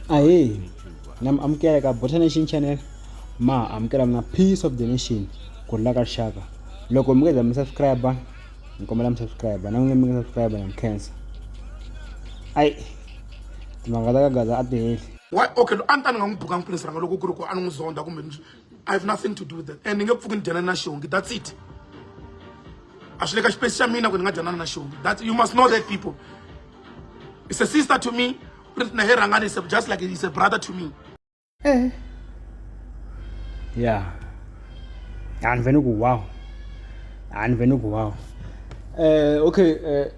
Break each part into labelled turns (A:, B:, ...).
A: ahee na mi amukela ka bota nation channel ma amukela mina peace of the nation ku rhula ka rixaka loko mi nga za mi subscribe ni kombela mi subscribe na n'wina mi nga subscribe na mi khensa ayi timhaka ta ka gaza a ti heli Why? Okay, lo a ni ta
B: ni nga n'wi bukanga pulisi ranga loko ku ri ku a ni n'wi zonda kumbe ni i have nothing to do with that and ni nge pfuki ni dyana na xongi that's it a swi le ka xipesi xa mina ku ni nga dyana na xongi that you must know that people it's a sister to me na he rhangani is just like is a brother to me eh
A: yeah and veni ku wow and veni ku wow eh okay eh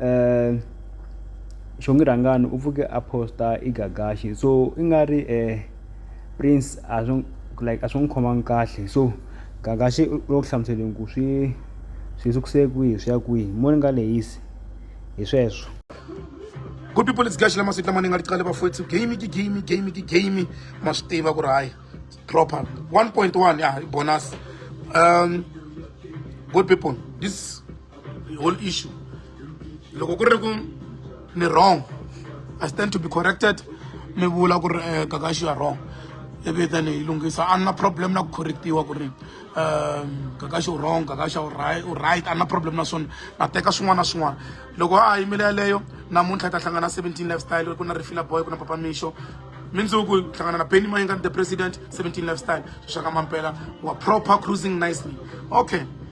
A: eh xongi rhangani u pfuke a posta i gagaxi so i nga ri eh prince a swi like a swi n'wi khomangi kahle so gagaxi u lo ku hlamuseleni ku swi swi sukuse kwihi swi ya kwihi mo ni nga lehisi hi sweswo
B: good people it's gaxi lama siku lama ni nga tiqale bafowethu game ki game game ki game ma swi tiva ku ri hayi proper 1.1 ya bonus um good people this the whole issue loko ku ri ku ni wrong i stand to be corrected mi vula ku ri eh, kakaxi you are wrong ivi then hi lunghisa a na problem na ku correctiwa ku ri um kakaxi u wrong kakaxa u right u right a na problem na swona na teka swin'wana na swin'wana loko a ha yimile yaleyo namuntlha hi ta hlangana 17 lifestyle ku na rifila boy ku na papa mixo mindzuku hi hlangana na benny mayinga the president 17 lifestyle xixaka mampela wa proper cruising nicely okay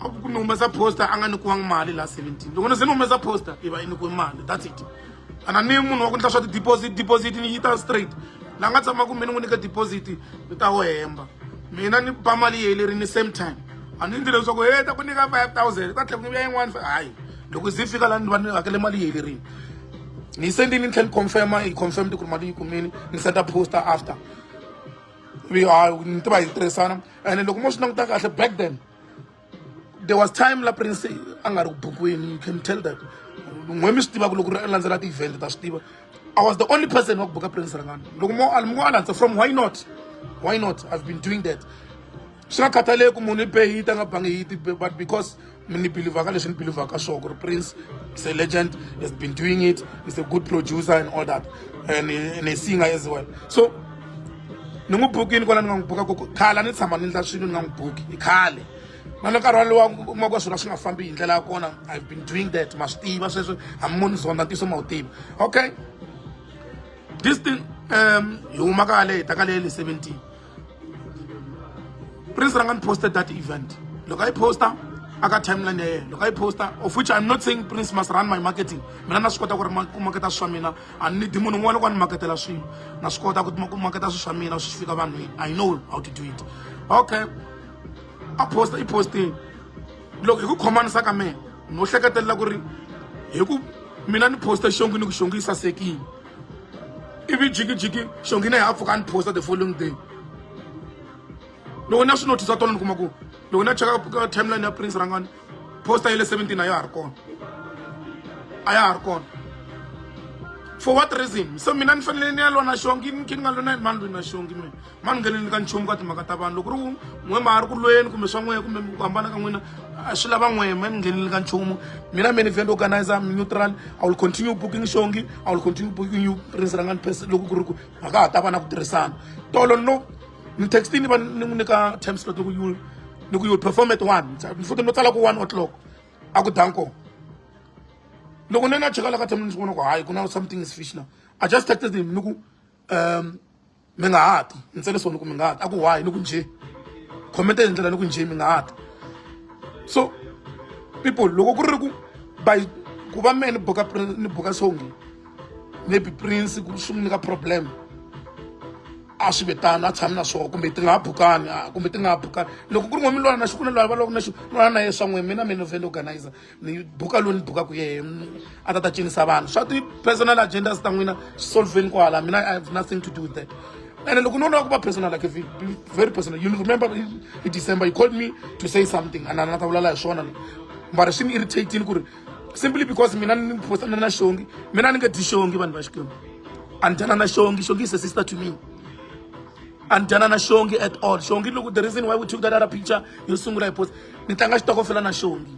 B: a ku ni humesa poster a nga nikiwangi mali la 17 loko ni se ni humesa poster i va i nikiwe mali that's it a na ni munhu wa ku endla swa ti-deposit deposit ni yi ta straight la nga tshama kumbe ni n'wi nyika deposit ni ta wo hemba mina ni ba mali yeyi leri ni same time a ni ndzi leswaku he ta ku nyika five thousand ta tlhela ku ya yin'wana hayi loko ze fika la ni va ni hakele mali yeyi lerini ni yi sendini ni tlhela ni confirma yi confirm ti ku ri mali yi kumini ni senda poster after hayi ni tiva hi tirhisana ene loko mo swi languta kahle back then there was time la prince a nga ri ku bukwini you can tell that n'we mi swi tiva ku loko ri landzela ti-event ta swi tiva i was the only person wa ku buka prince rangani loko mo mo a landza from why not why not i've been doing that swi nga khathaleki munhu i be yi ta nga bangi yi ti but because mi ni believaka leswi ni believaka sure ku ri prince is a legend has been doing it is a good producer and all that and, and a singer as well so ni n'wi bukini kwala ni nga n'wi buka ku khale ni tshama ni ndla swilo ni nga n'wi buki i khale na ni nkarhi walowa kuma ku swilo swi nga fambi hi ndlela ya kona i've been doing that ma swi tiva sweswi a mi moni zonda ntiyiso ma wu tiva okay this thing um hi huma kale hi ta ka leye le seventeen prince ra nga ni posta that event loko a yi posta aka timeline ya yena loko a yi posta of which i'm not saying prince must run my marketing mina na swi kota ku ri ku maketa swa mina a ni di munhu un'wana loko a ni maketela swilo na swi kota ku ku maketa swilo swa mina swi fika vanhwini i know how to do it okay a posta i postini loko hi ku khomanisa ka mina no hleketelela ku ri hi ku mina ni posta xongi ni ku xongi yi sasekile ivi jikijiki xongina hi apfuka ni posta the following day loko na swi notice tona ni kuma ku loko na cheka ka timeline ya prince rangani posta ya le 17 a ya ha ri kona a ya ha ri kona for what reason so mina ni fanele ni ya lona xongi ni khe ni nga lona ni mani lwini na xongi mina ma ni ngheneni ka nchumu ka timhaka ta vanhu loko ri n'we ma ha ri ku lweni kumbe swa n'wehe kumbe ku hambana ka n'wina a swi lava n'wehe ma ni ngheneni ka nchumu mina many event organizer neutral i will continue booking xongi i will continue booking you prince rangani pesa loko ku ri ku a ka ha ta va na ku tirhisana tolo no ni textini va ni n'wi nyika time slot loko you ni ku you perform at one ni futhi no tsala ku one o'clock a ku danko loko ni na cheka la ka time ni swi vona ku hayi ku na something is fish now i just texted him ni ku um mi nga ha ti ntsele so ni ku mi nga ha ti a ku why ni ku njhe khomente hi ndlela ni ku njhe mi nga ha ti so people loko ku ri ku by ku va mehe ni buka ni buka songi maybe prince ku swi n'wi nyika problem a swi ve tano a tshami na swona kumbe ti nga ha bukani kumbe ti nga ha bukani loko ku ri n'we mi lwana na xi ku na lwa va loko na xi lwana na ye swa n'we mina mina vhe ni organizer ni buka lowu ni bukaka yehe a ta ta cinisa vanhu swa ti-personal agendas ta n'wina swi solveni kwala mina i have nothing to do with that and loko no lava ku va personal like very personal you remember in december you called me to say something and na ta vulala hi swona mara swi ni irritating ku ri simply because mina ni postana na xongi mina ni nga dyi xongi vanhu va xikwembu a ni dyana na xongi xongi is a sister to me a ni dyana na xongi at all xongi loku the reason why we took that other picture yo sungula hi post ni tlanga xitokofela na xongi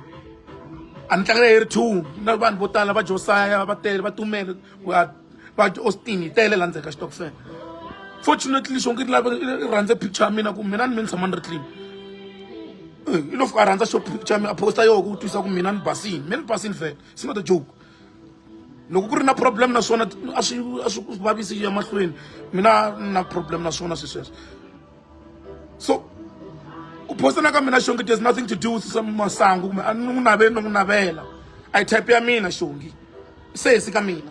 B: a ni tlangela hi ri two na vanhu vo tala va josaya va tele va tumele va austin hi tele la ndzeni ka xitokofela fortunately xongi ri lava ri rhandze picture ya mina ku mina ni mi ni tshama ni ri clean i lo fika a rhandza xo picture ya mina a posta yoho ku twisisa ku mina ni basini mina ni basini fela it's not a joke loko ku ri na problem na swona a swi a swi vavisi ya mahlweni mina na problem na swona swi sweswo so ku phosana ka mina xongi there's nothing to do with some masangu kumbe a ni n'wi naveli ni n'wi navela i type ya mina xongi se hisi ka mina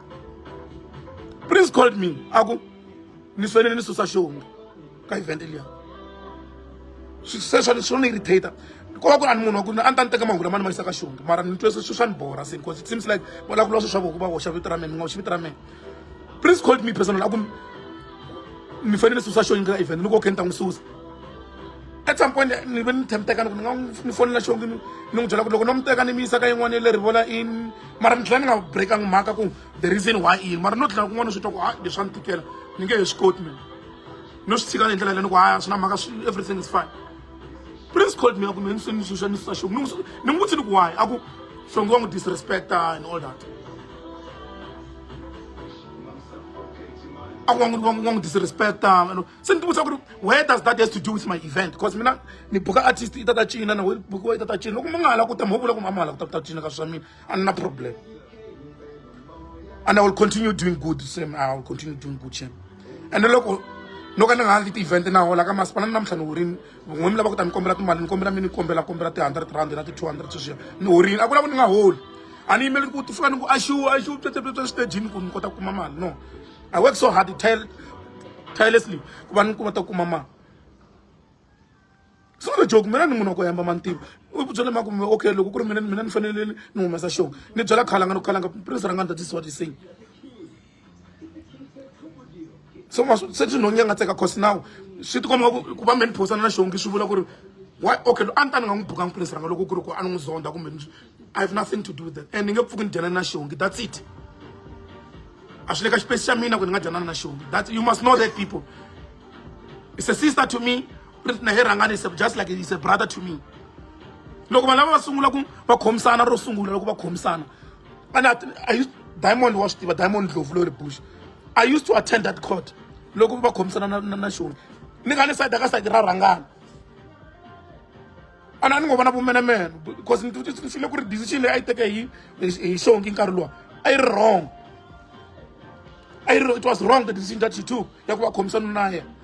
B: prince called me a ku ni fanele ni susa xihungu ka event liya sweswo swo ni irritate ko va ku ri a ni munhu wa ku a ni ta ni teka mahungu lama ni ma yisa ka xihungu mara ni twe swi swa ni borha se because it seems like va lava ku lwa swi swa voku va hoxa vito ra mina ni nga hoxi vito ra mina prince called me personal a ku ni fanele ni susa xihungu ka event ni ko khe ni ta n'wi susa at some point ni ve ni tshemtekani ku ni nga ni fonela xihungu ni n'wi byela ku loko no n'wi teka ni mi yisa ka yin'wana ya le rivola in mara ni tlhela ni nga breakanga mhaka ku the reason why i mara no tlhela kun'wana swi twa ku a leswi a ni tikela ni nge he swi koti mina no swi tshika hi ndlela leyi ni ku haya swi na mhaka everything is fine prince called me a ku me ni se ni suxa ni susa xoku ni n'wi vutsi ni ku why a ku hlonge wa n'wi disrespecta and all that a ku wa n'wi disrespecta se ni tivutisa ku ri where does that has to do with my event because mina ni buka artist i ta ta cina na we bukiwa i ta ta cina loko mi nga ha la ku ta mi ho vula ku mi a mi ha la ku ta ku ta cina ka swa mina a ni na problem and i will continue doing good same i will continue doing good shame and loko no ka ni nga ha ndzi ti-event na hola ka masipala ni namuntlha ni horini n'we mi lava ku ta ni kombela timali ni kombela mi ni kombela kombela ti-hundred rand na ti-two hundred sweswiya ni horini a ku lava ni nga holi a ni yimeli ku ti fika ni ku axiwu axiwu tswetsetswetswe xitejini ku ni kota ku kuma mali no I work so hard tire tirelessly ku va ni kuma ta kuma mali it's not a joke mina ni munhu wa ku hemba mantivo u byele ma ku okay loko ku ri mina mina ni fanele ni humesa xona ni byela khalanga ni khalanga prince ra nga ndza tisiwa tisini so ma se swi nhonge nga tseka cause now swi tikomba ku va me ni phosana na xongi swi vula ku ri wa okay a ni ta ni nga n'wi bukanga prince ranga loko ku ri ku a ni n'wi zonda kumbe i have nothing to do with that and ni nge pfuki ni dyanani na xongi that's it a swi le ka xipesi xa mina ku ni nga dyanani na xongi that you must know that people it's a sister to me ri na he rhangani just like it's a brother to me loko vanhu lava va sungula ku va khomisana ro sungula loko va khomisana and diamond wa swi tiva diamond ndlovu lori bush i used to attend that court loko va khomisana na na xona ni nga ni side ka side ra rhangana a ni a ni ngo vona vumenemene because ni file ku ri decision leyi a yi teke hi hi xongi nkarhi lowa a yi ri wrong a yi ri it was wrong the decision that she took ya ku va khomisa nuna na yena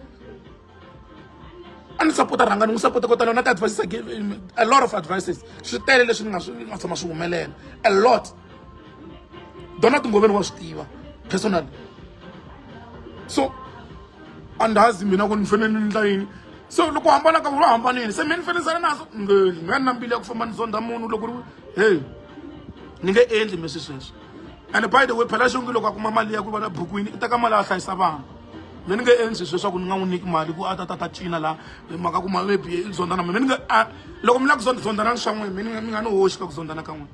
B: a ni sapota rhanga ni n'wi sapota ko tala na ti-advices a lot of advices swi tele leswi ni nga swi nga tshama swi humelela a lot donald ngoveni wa swi tiva personal so andazi mina ku ni fanele ni ndla yini so loko hambana ka vula hambanini se mi ni fanele sale naso ngeli nga ni na mbili ya ku famba ni zonda munhu loko ri hey ni nge endli mi swi sweswo and by the way phela xongi loko a kuma mali ya ku va na bukwini i teka mali a hlayisa vana mi ni nge endli sweswaku ni nga n'wi nyiki mali ku a ta ta ta cina laha mhaka ku ma maybe i zonda na mina mi ni nge loko mi lava ku zonda zondanani swa n'wina mi ni mi nga ni hoxi ka ku zonda na ka n'wina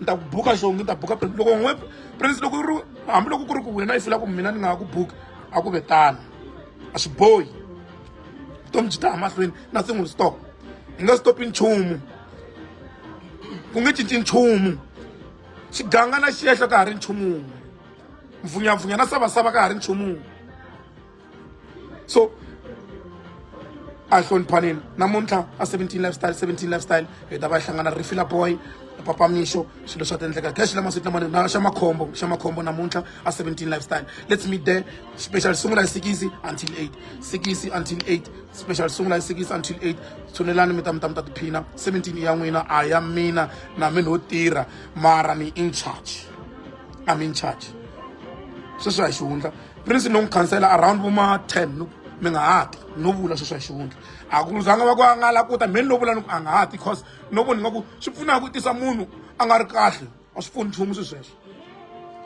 B: ni ta ku buka xo ngi ta buka prince loko n'we prince loko ri hambiloko ku ri ku wena yi fila ku mina ni nga ha ku buka a ku ve tano a swi bohi vutomi byi ta ha mahlweni nothing will stop hi nga stopi nchumu ku nge cinci nchumu xiganga na xihehlo ka ha ri nchumu mvunyampfunya na savasava ka ha ri nchumu so a hi hloniphaneni namuntlha a 17 lifestyle 17 lifestyle hi ta va hi hlangana rifila boy papa mixo swilo swa tendleka cash lama sitna mani na xa makhombo xa makhombo namuntlha a 17 lifestyle let's meet there special sungula hi sikisi until 8 sikisi until 8 special sungula hi sikisi until 8 tshunelani mi ta mi ta mi ta tiphina 17 ya n'wina a ya mina na mi no tirha mara ni in charge i'm in charge sweswi a hi xihundla prince no n'wi khansela around vo ma ten no mi nga ha ti no vula sweswo hi xivundla a ku zanga va ku a nga la ku ta mheni no vula ni ku a nga ha ti cause no voni nga ku swi pfuna ku tisa munhu a nga ri kahle a swi pfuni nchumu swi sweswo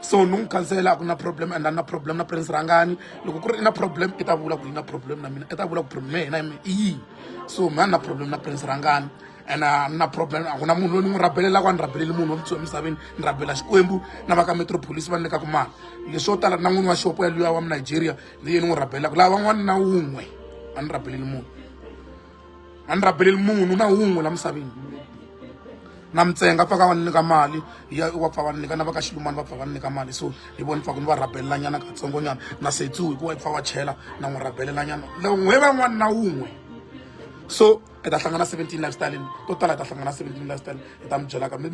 B: so ni n'wi khansela a ku na problem and a na problem na prince rhangani loko ku ri i na problem i ta vula ku yi na problem na mina i ta vula ku problem ya hina i yini so mhani na problem na prince rhangani and a ni na problem a ku na munhu loyi ni n'wi rabelelaka a ni rabeleli munhu wa mutsumi emisaveni ni rabela xikwembu na va ka metropolis va ni nyikaka mali leswo tala na n'wini wa xopo ya luya wa munigeria leyi ni n'wi rabelelaka laha van'wana na wun'we a ni rabeleli munhu a ni rabeleli munhu na wun'we la misaveni na mintsenga pfa ka va ni nyika mali ya wa pfa va ni nyika na va ka xilumani va pfa va ni nyika mali so hi voni pfa ku ni va rabelelanyana katsongonyana na setsu hikuva i pfa va chela na n'wi rabelelanyana n'we van'wana na wun'we so i ta hlangana seventeen lifestyle to tala i ta hlangana seventeen lifestyle i ta mi byelaka mi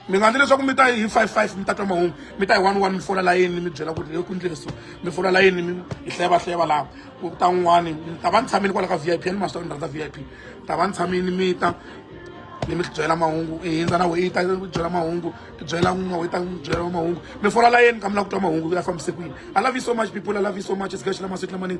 B: mi nga ndzi leswaku mi ta hi five five mi ta twa mahungu mi ta hi one one mi fola layeni mi byela ku ri hi ku ndlile so mi fola layeni mi hi hleva hleva laha ku ta n'wani ta va ni tshamini kwala ka v i p ni maswi ta ni rhandza v i p ta va ni tshamini mi ta ni mi byela mahungu i hindza na weyi ta byela mahungu ti byela n'wa weyi ta byela mahungu mi fola layeni ka mi lava ku twa mahungu ya fambise kwini i love you so much people i love you so much especially masiku lamanini